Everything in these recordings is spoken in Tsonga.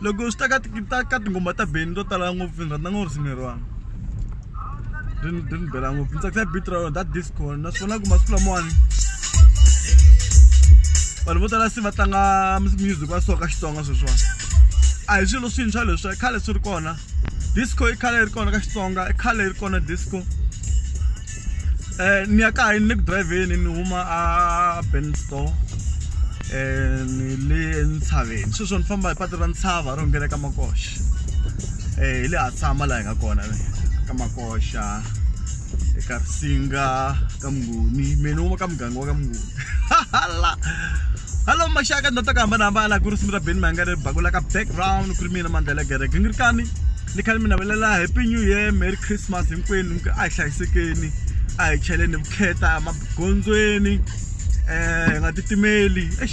loko swi ta ka ta ka tinghoma ta beni to tala ngopfu ni rhandza ngopfu risimu leriwani ri ni ri ni bela ngopfu ni tsakisa beat ra rona that disco naswona ku masiku lamawani vanhu vo tala se va tlanga music wa soka xitsonga sweswiwani a hi swilo swintshwa leswi khale swi ri kona disco i khale yi ri kona ka xitsonga i khale yi ri kona disco Eh, ni ya kaya ni le ku driveni ni huma a ben store um ni le entshaveni sweswo ni famba hi patu ra ntshava ro nghena ka makoxa um eh, hi le ha tshama laha hi nga kona ka makoxa eka risinga ka mnguni mina ni huma ka muganga wa ka mnguni hala hallo maxaka ndzi ta ku hambanahambana ku risimu ra beni mahangare bakula ka background ku ri mina mandlela gereke ni ri kani ni khale mi navelela happy new year merry christmas hinkwenu ni ku a hi hlayisekeni a hi cheleni vukheta magondzweni um hi nga titimeli ex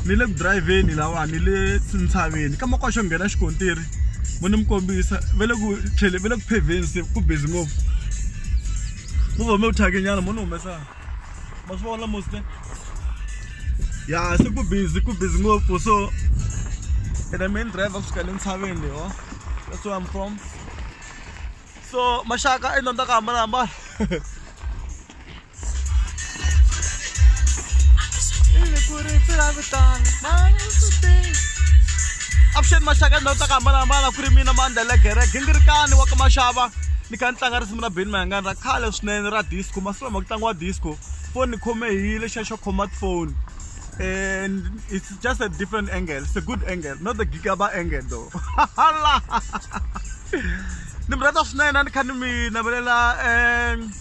ni le ku dirayivheni lawa ni le ntshaveni ka makwasho nghena xikontiri mo ni mi kombisa ve le ku tlhele ve le ku phevheni se ku busy ngopfu mo va mi wu thyake nyana mo ni humesa ma swi vona mosle ya se ku busy ku busy ngopfu so and the main driver kusuka le ntshaveni leho that's where i'm from so maxaka i nonda ka hambanahambana avuxeni maxaka ndhawu ta ku hambanahambana ku ri mina mandelegereke ni ri kani wa ka maxava ni kha ni tlanga risimu ra beni mayangani ra khale swinene ra disco lama ku tlangiwa disco foni ni khome hi lexiya xo khoma phone and it's just a different angle it's a good angle not the gigaba angle though hala ni mi rhandza swinene a ni kha ni mi navelela um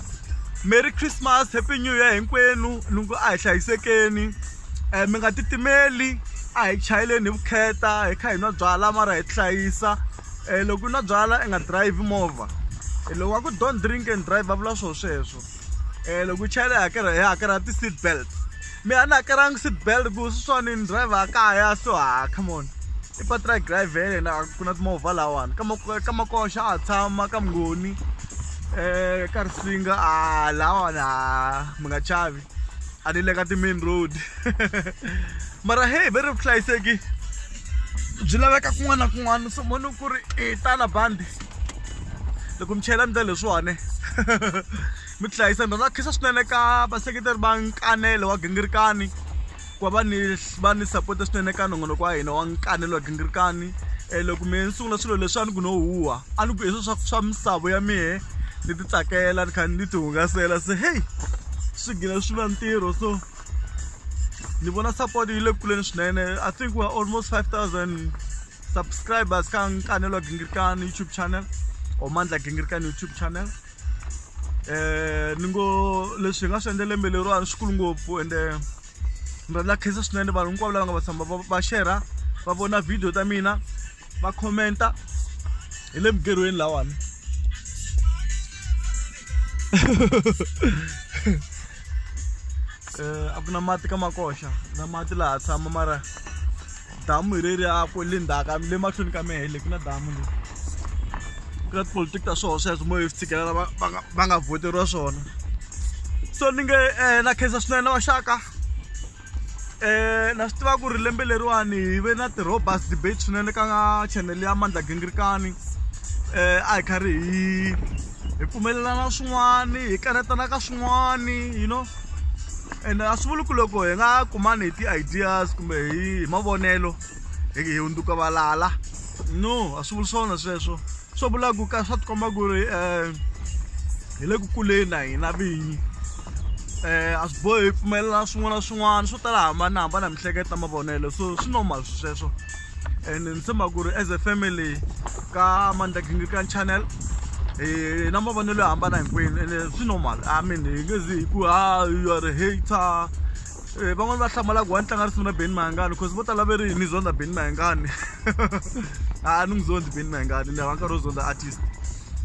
merry christmas happy new year hinkwenu ni ngo a hi hlayisekeni um mi nga titimeli a hi chayeleni hi vukheta hi kha hi nwa byala mara hi tihlayisa um loko u na byala i nga drive movha loko wa ku don't drink and drive va vula swoo sweswo um loko u chayela hakela hi hakela ti-seat belt mi a ni hakelanga seat belt ku swi swani ni driver a kaya so ha ah, come on i patra drive ya yena ku na timovha lawani ka makoxa a tshama ka mngoni um ka risinga a ah, lawani a ah, mi nga chavi a ni le ka ti-main road mara hey ve ri vuhlayiseki byi laveka kun'wana na kun'wana so moni ku ri i e, tala bandi loko mi chayela ndlela leswiwani mi tihlayisa ni rhandza khisa swinene ka vaseketeri va nkanele wa gingirikani ku va va ni va ni sapota swinene eka nongonoko wa hina wa nkanelo wa gingirikani um loko mehe ni sungula swilo leswi a ni ku no huwa a ni ku hi swilo swa swa misavo ya mehe ni ti tsakela ni kha ni ti hungasela se heyi swi gina swi va ntirho so ni vona support yi le kuleni swinene i think we're almost 5000 subscribers ka nkanelo wa gingirikani youtube channel or mandla gingirikani youtube channel um ni ngo leswi hi nga swi endle lembe leriwani swikulu ngopfu ende ni rhandza khensa swinene vanhu hinkwavo lava nga va tshamba va xerha va vona video ta mina va commenta hi le mugerhweni lawani um a ku na mati ka makoxa na mati laha tshama mara damu hi reri a ku le ndzhaka le mahlweni ka mehe le ku na damu le ku na tipolitiki ta swona sweswo mo hi swi tshikelela va nga voteriwa swona so ni nge um na khensa swinene na vaxaka um na swi tiva ku ri lembe leriwani hi ve na ti-robust debate swinene ka chanele ya mandla gingirikani um a hi kharhi hi hi pfumelelana swin'wani hi kanetana ka swin'wani you know ene a swi vuli ku loko hi nga kumani hi ti-ideas kumbe hi mavonelo hi hi hundzuka valala no a swi vuli swona sweswo swo vula ku ka swa tikomba ku ri um hi le ku kuleni na hina vinyi um a swi bohi hi pfumelela swin'wana na swin'wana swo tala hambanahambana mihleketo mavonelo so swi normal sweswo and ni tshemba ku ri as a family ka mandla gingirikani channel hi na mavonelo yo hambana hinkwenu ene swi normal i mean hi nge zi hi ku ha you are hater eh, van'wani va hlamalaku wa ni tlanga risimu na beni mahangani because vo tala ve ri ni zondza beni mahangani a ni n'wi zondzi beni mahangani ni hava nkarhi wo zondza artist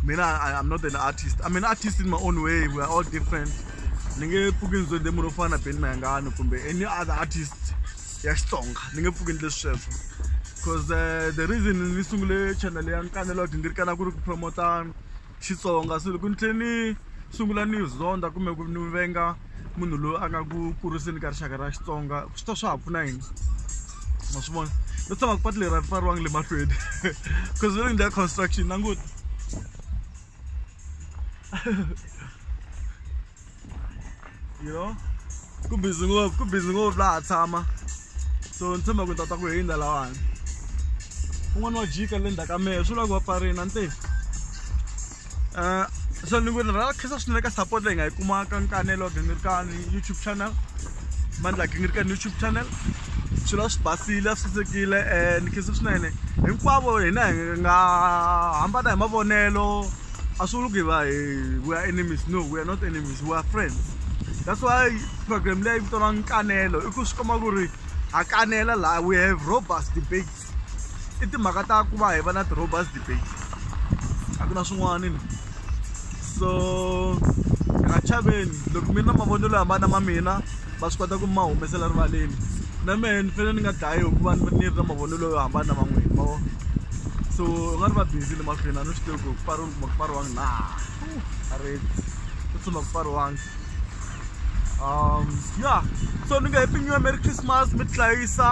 mina i'm not an artist i mean artist in my own way we are all different ni nge pfuki ni zondze munhu wo fana na beni mahangani kumbe any other artist ya xitsonga ni nge pfuki ni leswi sweswo because uh, the reason ni sungule channel ya nkanelo wa dingirikana ku ri ku promota xitsonga so loko ni tlhe ni sungula ni zonda kumbe ku ni venga munhu loyi a nga ku kuriseni ka rixaka ra xitsonga swi ta swa ha pfuna yini ma swi vona no tshama ku patu leri a ri pfariwangi le mahlweni because ri ndla construction nanguti you know ku busy ngopfu ku busy ngopfu laha tshama so ni tshemba ku ni tata ku hindza lawani un'wana wa jika le ndzhaku ka mehe swi vula ku va pfarina ni te um so ni ku ni rhala khensa swinene ka support leyi nga yi kumaka nkanelo wa gingirikani youtube channel mandla ya gingirikani youtube channel swilo a swi basile a swi sasekile um ni khensa swinene hinkwavo hina hi nga hambana hi mavonelo asuluke va eh, we are enemies no we are not enemies we are friends that's why program leyi vitaniwa nkanelo i ku swi komba ku ri ha kanela laha we have robust debates i timhaka ta ku va hi va na ti-robust debates a ku na swin'wana ni so ha chaveni loko mi na mavonelo yo hambana ma mina va swi kota ku ma humesela rivaleni na mehe ni fanele ni nga dlayi hikuva ni ni ri na mavonelo yo hambana na van'wini ma vo so u nga ri va busy le mahlweni a ni swi tivi ku pfariwile kuma ku pfariwangi na a ri ku tshuma ku pfariwangi um ya so ni nge happy new year merry christmas mi tihlayisa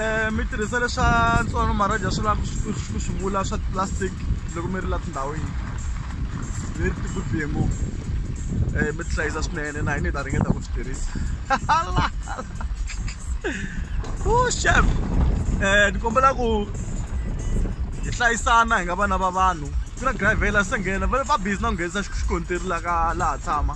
um mi tirhisa leswa ntswalo maraja swi lava ku swi vula swa plastic loko mi ri la tindhawini very good BMO eh mi hlayisa swinene na hina hi ta ringeta ku swi tirhisa u chef eh ni kombela ku hi hlayisana hi nga vana va vanhu ku na driver la se nghena va busy na ku nghenisa xikontiri la ka laha tshama